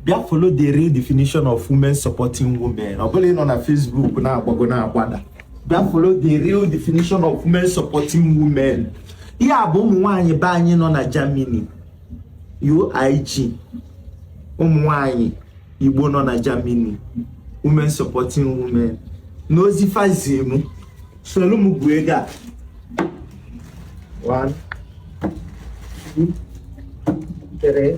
bịa follow the real definition of women supporting women ọ bụrọ ịnọ na Facebook na-agbago na-agbada bịa follow the real definition of women supporting women ihe a bụ ụmụ nwaanyị be anyị nọ na Germany UIG ụmụ nwaanyị Igbo nọ na Germany women supporting women n'ozi fa zi m soro m gụọ ego a one two three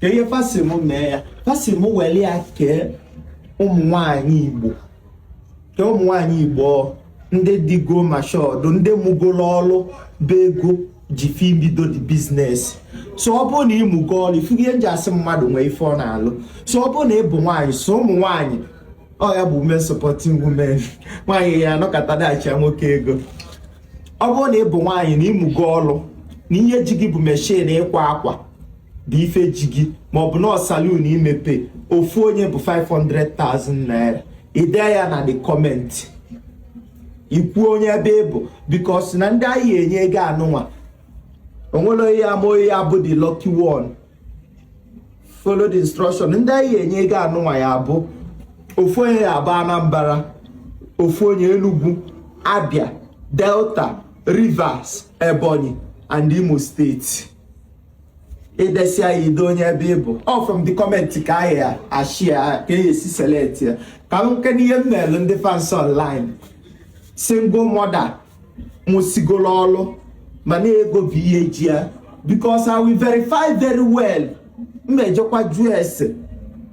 ka ihe fa sị m mee ya fa sị m were ya kee ụmụ nwanyị igbo kee ụmụ nwanyị igbo ndị digo mashọdụ ndị mụgoro ọrụ bụ ego ji fa ibido the business so ọ bụrụ na ịmụgo ọrụ ị fụgo ihe m ji asị mmadụ nwee ife ọ na-alụ so ọ bụrụ na ị bụ nwaanyị so ụmụ nwaanyị ọ ya bụ women supporting women nwaanyị ya-anọkata dashị nwoke ego ọ bụrụ na ị bụ nwaanyị na ịmụgo ọrụ na ihe ji gị bụ meshin ịkwa akwa bụ ife ji gị maọbụ na salon imepe ofu onye bụ 500,000 naira i dee ya na the comment i kwuo onye ebe ị bụ because na ndị anyị enye ego anụnwa o nwerọ onye ma onye ya-abụ the lucky one follow the instruction ndị anyị enye ego anụnwa ya bụ ofu onye ya-abụ Anambra ofu onye Enugu Abia Delta Rivers Ebonyi and Imo State i desịa i dee onye ebe ị bụ ọ from the comment ka anyị ya-esi ka a ya-esi select ya ka m nke n'ihe m na-emelu ndị fans online single mother mụsigoro ọrụ mana ego bụ ihe ji ya because I will verify very well m ejekwa jụọ ese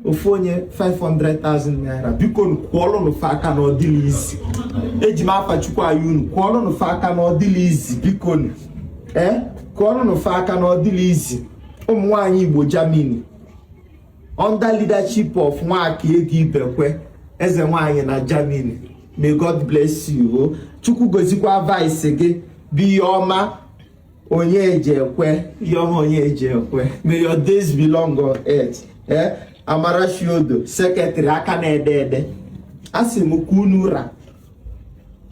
ofu onye 500,000 naira bikonu kụọlụnụ fa aka na ọ dịrọ easy eji m afa chukwu ayọ unu kụọlụnụ fa aka na ọ dịrọ easy bikonu ee kụọlụnụ fa aka na ọ dịrọ easy ụmụ nwaanyị igbo germany under leadership of Nwakaego Ibekwe eze nwanyị na germany may god bless you o chukwu gozikwa vice gị bụ Iheọma Onyejekwe Iheọma Onyejekwe may your days be long on earth ee Amarachi Odo secretary aka na-ede ede asị m ka unu ra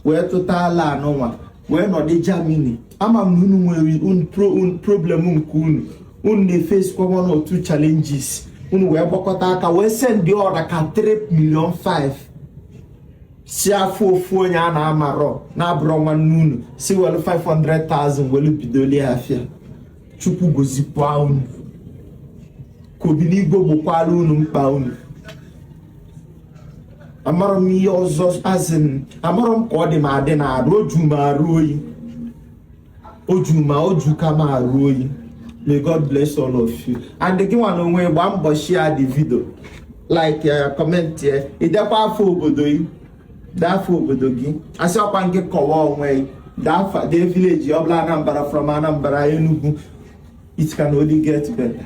wee tụta alo anụnwa wee nọdụ Germany ama m na unu nwere problem nke unu unu na-efesikwa one or two challenges unu wee gbakọta aka wee sendị ọ ra ka 3 million 5 sị a fụ ofu onye a na-amarọ na-abụrọ nwanne unu sị welu 500,000 welu bidoli afịa chukwu gozikwa unu ka obinigwe gbokwala unu mkpa unu amarọ m ihe ọzọ as in amarọ m ka ọ dị m adị na arụ o ju m arụ oyi o ju m o juka m arụ oyi may god bless all of you and gị nwa na onwe gbaa mbọ share the video like ya comment ya i dekwa afa obodo yi dee afa obodo gị a sị ọkwa nke kọwa onwe dee afa the village ọbụla Anambra from Anambra Enugu it can only get better